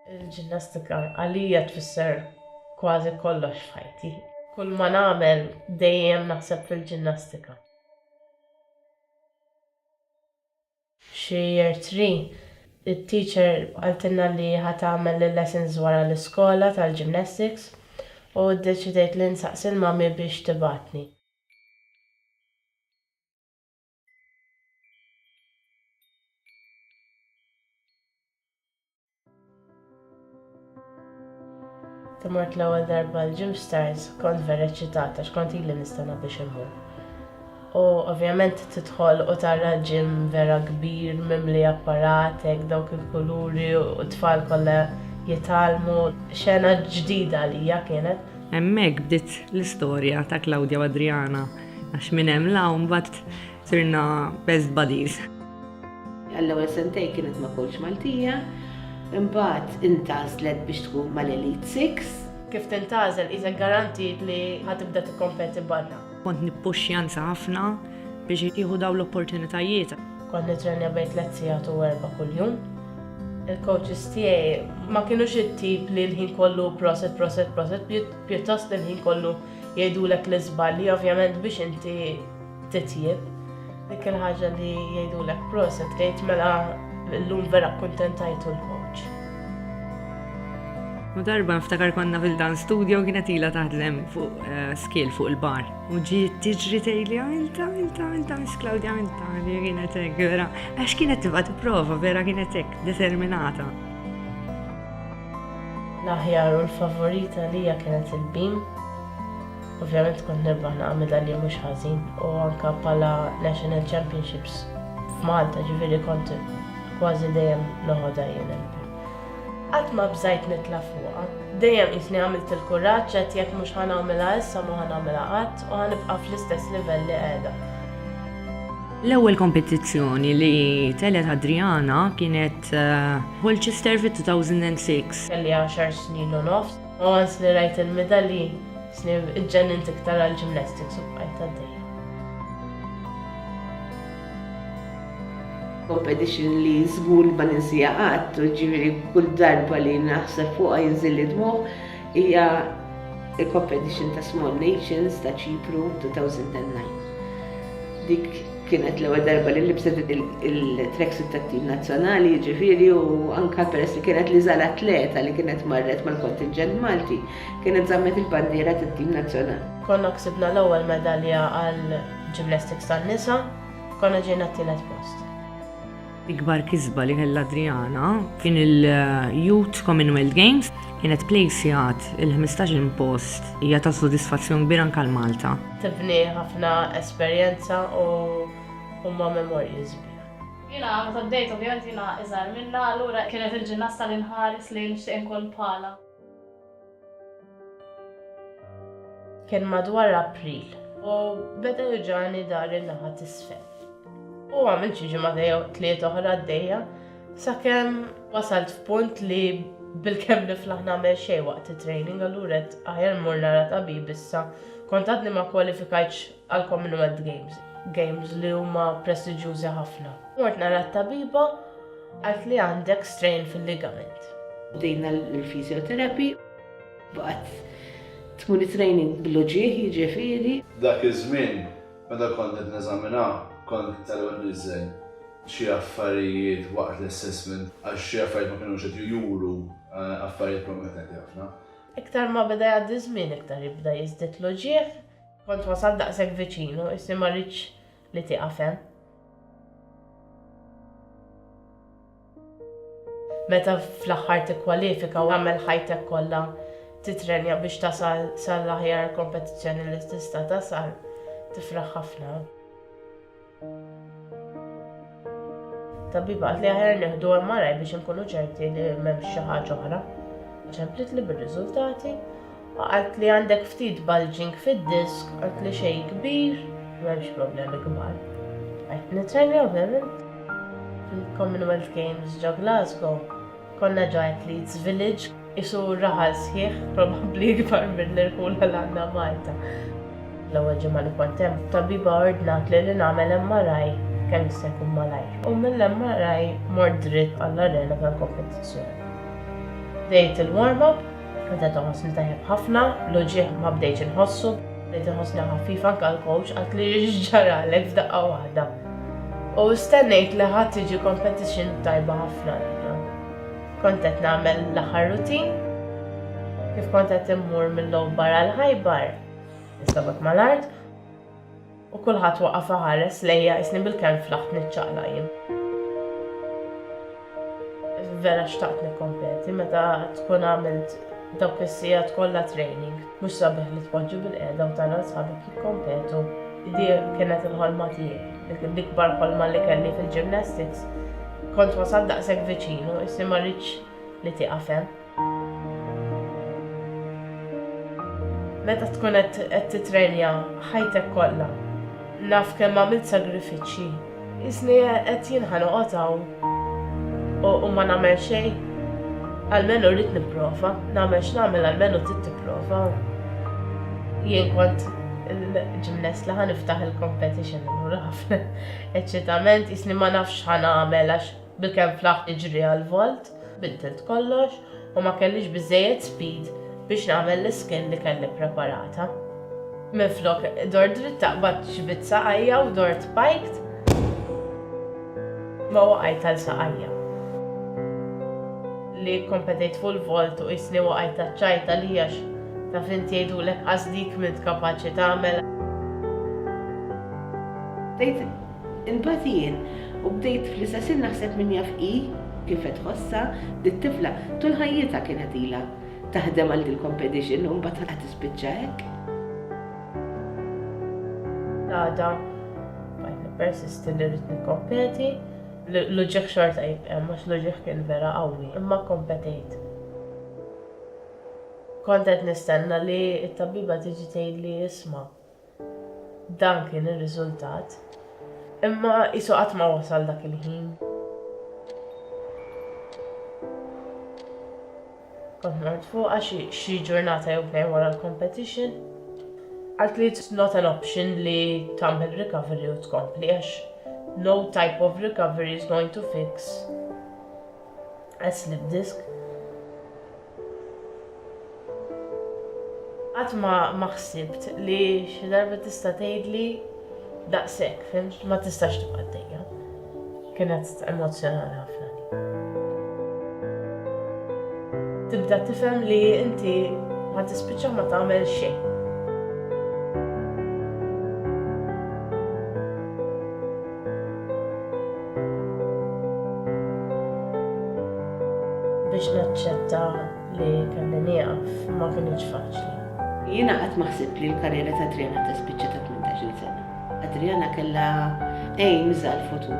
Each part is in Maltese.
Il-ġinnastika għalija tfisser kważi kollox f'ħajti. Kull ma nagħmel dejjem naħseb fil-ġinnastika. F'xi year three, it-teacher qaltilna li ħa tagħmel il-lessons wara l-iskola tal-gymnastics u ddeċidejt li nsaqsi l-mummy biex tibgħatni. Timort l-ewwel darba l-Gym Stars kont vera eċċitata x'kont ili nistenna biex immur. U ovvjament tidħol u tara ġim vera kbir mimli apparat hekk dawk il-kuluri u t-tfal kollha jitgħallmu. Xena ġdida għalija kienet. Hemmhekk bdiet l-istorja ta' Claudia u Adriana. Għax minn hemm la mbagħad sirna best buddies. Għall-ewwel sentej kienet ma' coach Maltija, imbagħad intażlet biex tkun mal-Elite Six. Kif tintażel isa garantit li ħatibda tikkompeti barra. Kont nippuxxja nsa ħafna biex jieħu dawn l-opportunitajiet. Kont nitrennja bejn tliet sigħat u erba' kuljum. Il-coaches tiegħi ma kinux it-tip li l-ħin kollu proset, proset, proset, pjuttost li l-ħin kollu Jgħidulek li żbalji ovvjament biex inti titjieb. Dik il-ħaġa li jgħidulek proset tgħid mela llum vera kkuntentajtu l-coach. U darba nftakar konna fil-dan studio kienet ila taħdlem fuq eh, skill fuq il-bar. U ġi tiġri tejli għalta, għalta, għalta, mis Claudia għalta, li kienet ek, vera. Għax kienet tibat prova, vera kienet ek, determinata. L-aħjar u l-favorit għalija kienet il-beam. Ovvjament kont nirbaħ naqra midalji mhux ħażin u anke bħala National Championships f'Malta, ġifieri kont kważi dejjem noħodha jien il-beam. Qatt ma bżajt nitla' fuqha. Dejjem qisni għamilt il-kuraġġ, għedt jekk mhux ħa nagħmilha issa mhu ħa nagħmilha qatt u ħa nibqa' fl-istess livell li qiegħda. L-ewwel kompetizzjoni li telgħet Adriana kienet Colchester fit-2006. Kelli għaxar snin u nofs. Once li rajt il-midalji, sni ġġennint iktar għall-gymnastics u bqajt għaddejja. Competition li żgur li ma ninsiha qatt, ġifieri kull darba li naħseb fuqha jinżil li dmugħ, hija il-competition ta' Small Nations ta' Ċipru 2009. Dik Kienet l-ewwel darba li libset il-tracksuit tat-tim nazzjonali, jiġifieri u anke peress li kienet l-iżgħar atleta li kienet marret mal-kontinġent Malti, kienet żammet il-bandiera tat-tim nazzjonali. Konna ksibna l-ewwel medalja għall-ġimnastiks tan-nisa, konna ġejna t-tielet post. L-ikbar kisba li kellha Adriana kien il-Youth Commonwealth Games kienet plejsjat il-15 post hija ta' sodisfazzjon kbir anke għal Malta. Tifni ħafna esperjenza u huma memorji sbieħ. Jiena meta bdejt ovvjament jiena iżgħar minnha allura kienet il-ġinnasta li nħares li nixtieq inkun bħalha. Kien madwar April u beda juġani dar in-naħa t'isfel. U għamilt xi ġimgħa jew tliet oħra għaddejja sakemm wasalt f'punt li bilkemm niflaħ nagħmel xejn waqt it-training allura għedt aħjar mmur nara tabib issa kont għadni ma kwalifikajtx għal Commonwealth Games, games li huma prestiġjużi ħafna. Mort nara t-tabiba għalt li għandek strain fil-ligament. Bdejna l-physiotherapy, baqgħet tkun it-training bil-loġieħ jiġifieri. Dak iż-żmien meta kont qed neżamina kont tal-ewwel niżżel xi affarijiet waqt l-assessment għax xi affarijiet ma kinux qed juru affarijiet promettenti ħafna. Iktar ma beda jgħaddi ż-żmien iktar jibda jiżdied l-uġigħ. Kont wasalt daqshekk viċin u isni ma ridtx li tieqaf hemm. Meta fl-aħħar tikkwalifika u tagħmel ħajtek kollha titrenja biex tasal sal-aħjar kompetizzjoni li tista' tasal, tifraħ ħafna. Tabib qalt li aħjar nieħdu MRI biex inkunu ċerti li m'hemmx xi ħaġa oħra. Ċemplitli bir-riżultati u qalt li għandek ftit bulging fid-disk, qalt li xejn kbir, m'hemmx problemi kbar. Qed nitrenja ovvjament fil-Commonwealth Games ġo Glasgow. Konna giant leads village qisu raħal sħiħ probabbli ikbar mill-irħula li għandha Malta. L-ewwel ġimgħa li kont hemm, tabbiba ordnatli li nagħmel MRI kemm jista' jkun malajr u mill-MRI mort dritt għall-arena tal-kompetizzjoni. Bdejt il-warm up, bdejt inħossni tajjeb ħafna, l-uġigħ ma bdejtx inħossu, bdejt inħossni ħafifa anke l-coach qaltli x'ġaralek f'daqqa waħda. U stennejt li ħa tiġi competition tajba ħafna għalija. Kont qed nagħmel l-aħħar routine, kif kont qed immur mill-Lowbar għal Ħajbar, is-sabgħat mal-art, u kulħadd waqaf iħares lejja qisni bil-kemm flaħt niċċaqlaq jien. Vera xtaqt nikkompeti meta tkun għamilt dawk is-sigħat kollha training. Mhux sabiħ li tpoġġi bil-qiegħda u tara sħabek jikkompetu. Di kienet il-ħolma tiegħi, l-ikbar ħolma li kelli fil-gymnastics. Kont wasalt daqshekk viċinu, issi ma ridtx li tieqaf hemm. Meta tkun qed qed tittrenja ħajtek kollha, naf kemm għamilt sagrifiċċji, qisni qed jien ħa noqgħod hawn u u ma nagħmel xejn? Almenu rrid nipprova, nagħmel x'nagħmel almenu trid tipprova. Jien kont il-ġimnest li ħa niftaħ il-competition, allura ħafna eċċitament qisni ma nafx ħa nagħmel għax Bilkemm flaħt niġri għall-vault, biddilt kollox u ma kellix biżżejjed speed biex nagħmel l-iskill li kelli ppreparata. Minflok dort dritta qbadt xi bit saqajja u dort piked ma waqajt għal saqajja. Li kkompetejt fuq il-vault u qisni waqajt taċċajt għalih għax taf int jgħidulek qas dik m'int kapaċi tagħmel. Imbagħad jien, u bdejt fl-istess ħin naħseb min jaf hi kif qed tħossha, dit-tifla tul ħajjitha kienet ilha taħdem għal dil-compedition u mbagħad qed tispiċċa hekk. L-għada bqajt nippersisti li rrid nikkompeti, l-uġigħ xorta jibqa' hemm għax l-uġigħ kien vera qawwi, imma kkompetejt. Kont qed nistenna li t-tabbiba tiġi tgħidli isma', Dan kien ir-riżultat. Imma qisu qatt ma wasal dak il-ħin. Kont mort fuqha xi xi ġurnata jew tnejn wara l-competition. Għalt li it's not an option li tagħmel recovery u tkompli għax no type of recovery is going to fix a slipped disc. Qatt ma ma ħsibt li xi darba tista' tgħidli daqshekk, fhimt, ma tistax tibqa' għaddejja. Kienet emozzjonali ħafna din. Tibda tifhem li inti ħa tispiċċa ma tagħmel xejn. Biex naċċetta li kelli nieqaf ma kinitx faċli. Jiena qatt ma ħsibt li l-karriera ta' Adriana tispiċċa ta' tmintax-il sena. Adriana kellha aims għall-futur.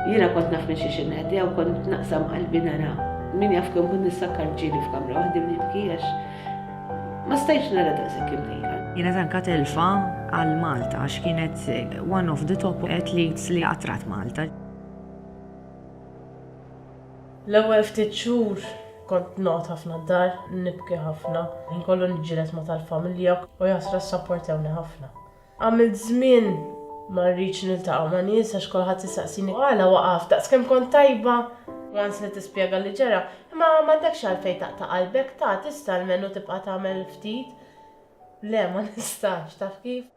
Jiena kont naf minn xiex inneħdiha u kont naqsam qalbi nara. Min jaf kemm kont nissakkar ġieli f'kamra waħdi u nibki għax Ma stajtx nara daqshekk imħejja. Kienet anka telfa għal Malta għax kienet one of the top athletes li qatrat Malta. L-ewwel ftit xhur kont noqgħod ħafna d-dar, nibki ħafna, ħin kollu niġġieled ma' tal-familja u jaħsra ssapportewni ħafna. Għamilt żmien ma rridx niltaqa' ma' nies għax kulħadd isaqsini għala waqaft, daqs kemm kont tajba! Once li tispjega li ġara, imma m'għandekx għalfejn taqta' qalbek, ta' tista' almenu tibqa' tagħmel ftit. Le, ma nistax, taf kif?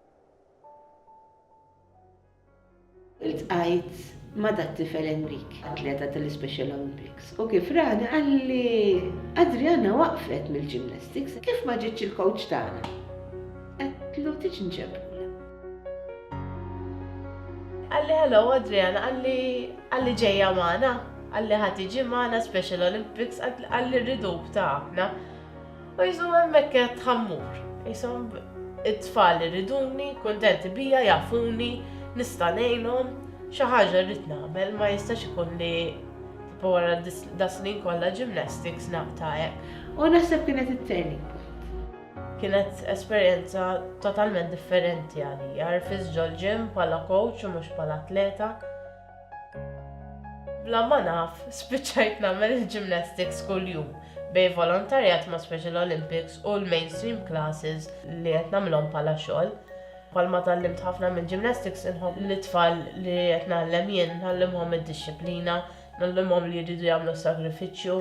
Iltqajt ma' dat-tifel Enrique, atleta tal-iSpecial Olympics, u kif rani qalli, Adriana waqfet mill-gymnastics, kif ma ġietx il-coach tagħna? Għedtlu tiġi nġebhulha. Qalli hello Adriana, qalli, qalli ġejja magħna, qalli ħa tiġi magħna Special Olympics, qalli rriduk tagħna. U Ġesù hemmhekk għedt ħa mmur. Qishom it-tfal iriduni, kuntenti bija, jafuni, nista' ngħinhom, xi ħaġa rrid nagħmel, ma jistax ikun li tipo wara das-snin kollha gymnastics naqta' hekk. U naħseb kienet it-turning point. Kienet esperjenza totalment differenti għalija, rfiż ġol-gym bħala coach u mhux bħala atleta. Bla ma naf, spiċċajt nagħmel il-gymnastics kuljum, bejn volontarjat ma' Special Olympics u l-mainstream classes li qed nagħmilhom bħala xogħol. Bħalma tgħallimt ħafna mill-gymnastics, inħobb li t-tfal li qed ngħallem jien ngħallimhom id-dixxiplina, ngħallimhom li jridu jagħmlu s-sagrifiċċju.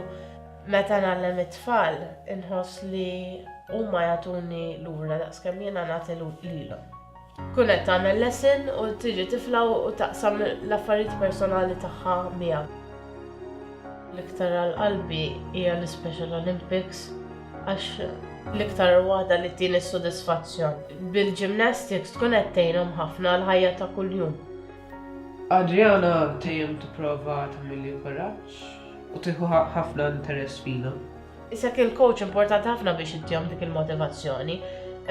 Meta ngħallem it-tfal, inħoss li huma jagħtuni lura daqskemm jiena nagħti lilhom. Tkun qed tagħmel lesson u tiġi tifla u taqsam l-affarijiet personali tagħha miegħek. L-iktar għal qalbi hija l-Ispecial Olympics għax l-iktar waħda li tini s-sodisfazzjon. Bil-gymnastics tkun qed tgħinhom ħafna għall-ħajja ta' kuljum. Adriana dejjem tipprova tagħmilli kuraġġ u tieħu ħafna interess fina. Isek il-coach importanti ħafna biex ittihom dik il-motivazzjoni,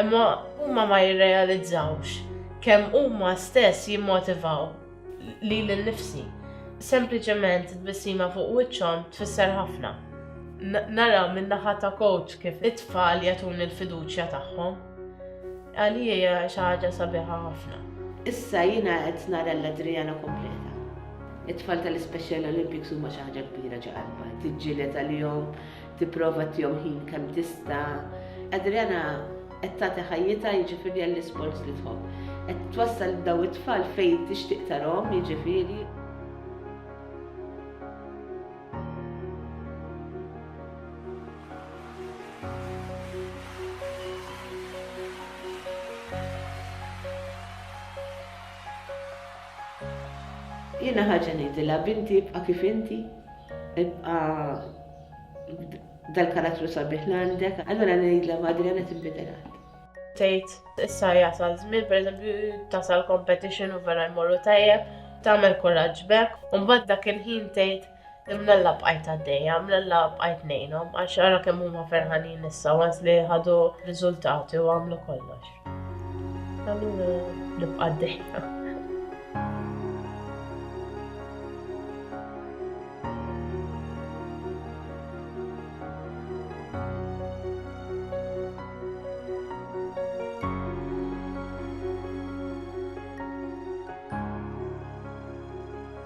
imma huma ma jirrealizzawx kemm huma stess jimmotivaw lili nnifsi. Sempliċement tbissima fuq wiċċhom tfisser ħafna. Nara min-naħa ta' coach kif it-tfal jagħtuni l-fiduċja tagħhom. Għalija hija xi ħaġa sabiħa ħafna. Issa jiena qed nara l-Adriana kompleta. It-tfal tal-Ispecial Olympics huma xi ħaġa kbira ġo qalba, tiġġieled għalihom, tipprova tihom ħin kemm tista'. Adriana qed tagħti ħajjitha jiġifieri għall-isports li tħobb. Qed twassal daw it-tfal fejn tixtieq tarhom jiġifieri Jiena ħaġa ngħidilha binti ibqa' kif inti, ibqa' dal-karattru sabiħ li għandek, allura ngħidilha madri għandha tinbidel għad. Tgħid issa jasal żmien pereżempju tasal competition u vera jmorru tajjeb, tagħmel kuraġġ b'hekk, u mbagħad dak il-ħin tgħid Imnalla bqajt għaddejja, imnalla bqajt nejnom, għax għara kemm huma ferħanin issa għas li ħadu riżultati u għamlu kollox. Allura nibqa' għaddejja.